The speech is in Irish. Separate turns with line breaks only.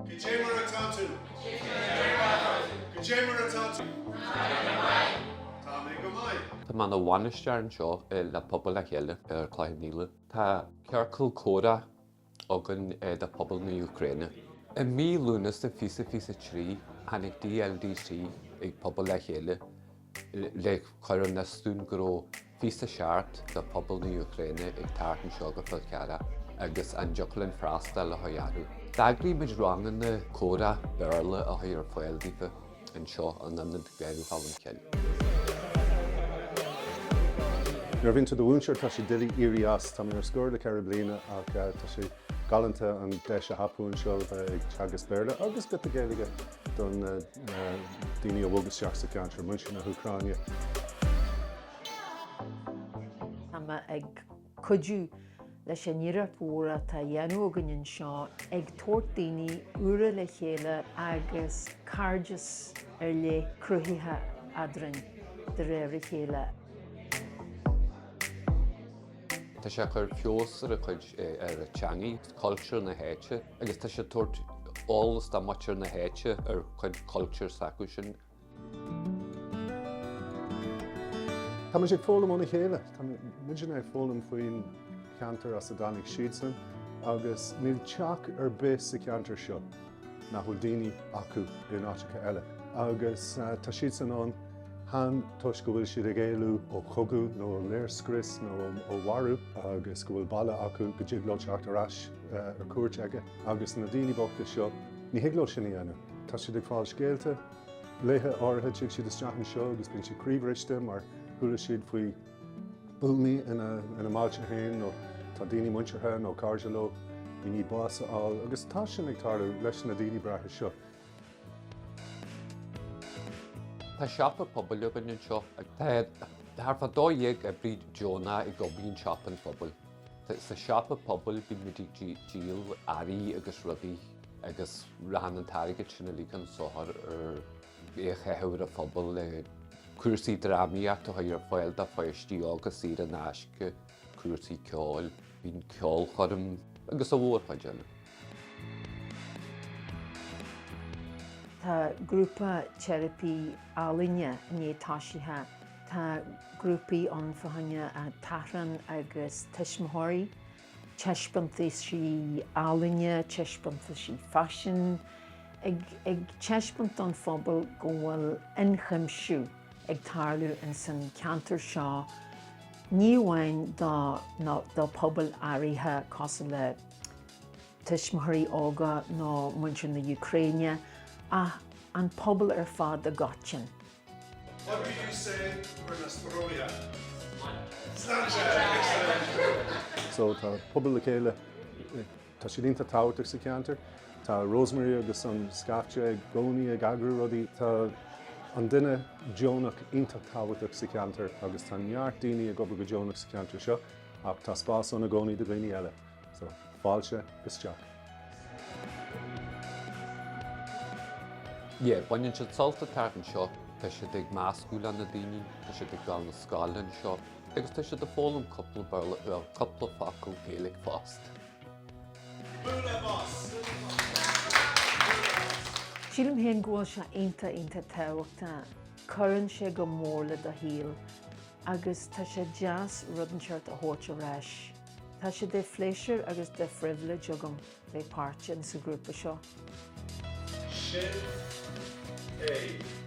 Cad é mar atá tú? Cad é mar atá tú? Tá mé go maith. Tá mé ina bhainisteoir anseo le Pobal le Chéile ar Chloich Cheann Fhaola. Tá ciorcal comhrá againn do phobal na Úcráine. I mí Lúnasa fiche fiche a trí tháinig DLDC ag Pobal le Chéile le cur in iúl dúinn go raibh fiche a seacht de phobal na Úcráine ag teacht anseo go Fál Carrach agus an dtiocfadh linn freastal orthu. D'eagraigh muid ranganna comhrá Béarla a chur ar fáil daofa anseo in Ionad Gaeilge Cholm Cille. Nuair a bhíonn tú do mhúinteoir tá sé doiligh éirí as. Tá mé ar scor le ceithre bliana ach tá sé galánta an deis a thapú anseo bheith ag teagasc Béarla agus bit de Gaeilge do na daoine a bhog isteach sa cheantar muintir na hÚcráine. Tá mé ag cuidiú leis an iarracht mhór atá á dhéanamh againn anseo ag tabhairt daoine úra le chéile agus cairdeas ar leith cruthaithe eadrainn de réir a chéile. Tá sé ag cur feabhas ar a cuid, ar a teangaidh, cultúr na háite agus tá sé ag tabhairt eolas do mhuintir na háite ar chuid cultúr s'acusan. Tá muid ag foghlaim óna chéile. Tá muidinne ag foghlaim faoin cheantar as a dtáinig siadsan agus níl teach ar bith sa cheantar seo. nach bhfuil daoine acu in áiteacha eile agus tá siadsan ann chan toisc go bhfuil siad ag éalú ó chogadh nó ó léirscrios nó ó mharú agus go bhfuil baile acu go dtig leo teacht ar ais ar cuairt aige agus na daoine bochta seo ní thig leo sin a dhéanamh. Tá siad ag fáil scéalta. Laethe áirithe tig siad isteach anseo agus bíonn siad croíbhriste mar chuala siad faoi buamaí ina mbailte féin nó tá daoine muinteartha nó cairde leo i ndiaidh bás a fháil agus tá sin ag tarlú leis na daoine breátha seo. Tá siopa pobail againn anseo agus tá thart fá dó dhéag oibrí deonach ag obair i siopa an phobail. Tá sa siopa pobail bíonn muid ag díol earraí agus rudaí agus rachaidh an t-airgead sin uilig chun sochair ar Bheadh feitheamh an phobail le cúrsaí drámaíochta a chur ar fáil do pháistí óga saor in aisce, cúrsaí ceoil, ceolchoirm agus a mhórchuid eile. Tá grúpa teiripí ealaíne i ndiaidh toisithe. Tá grúpaí ann fá choinne tachrán agus tuismitheoirí. taispeántaisí ealaíne, taispeántaisí faisin, ag taispeáint don phobal go bhfuil ionchuimsiú ag tarlú ins an cheantar seo ní amháin do pobail áirithe cosúil le tuismitheoirí óga nó muintir na hÚcráine ach an pobal ar fad i gcoitinn. So tá pobal le chéile, tá siad iontach tábhachtach sa cheantar. Tá Rosemary agus an scaifte i gcónaí ag eagrú rudaí. Tá an duine deonach iontach tábhachtach sa cheantar agus tá neart daoine ag obair go deonach sa cheantar seo ach tá spás ann i gcónaí do dhaoine eile. So, fáilte isteach. Yeah, baineann siad sult as teacht anseo, tá siad ag meascadh le na daoine, tá siad ag gabháil na scoile anseo agus tá siad ag foghlaim cúpla Béarla uair, cúpla focal Gaeilge fosta. Bualadh bos! Sílim féin go bhfuil sé iontach iontach tábhachtach. Cuireann sé go mór le do shaol agus tá sé deas rud inteacht a thabhairt ar ais. Tá sé de phléisiúr agus de phribhléid agam bheith páirteach sa ghrúpa seo. Sin é.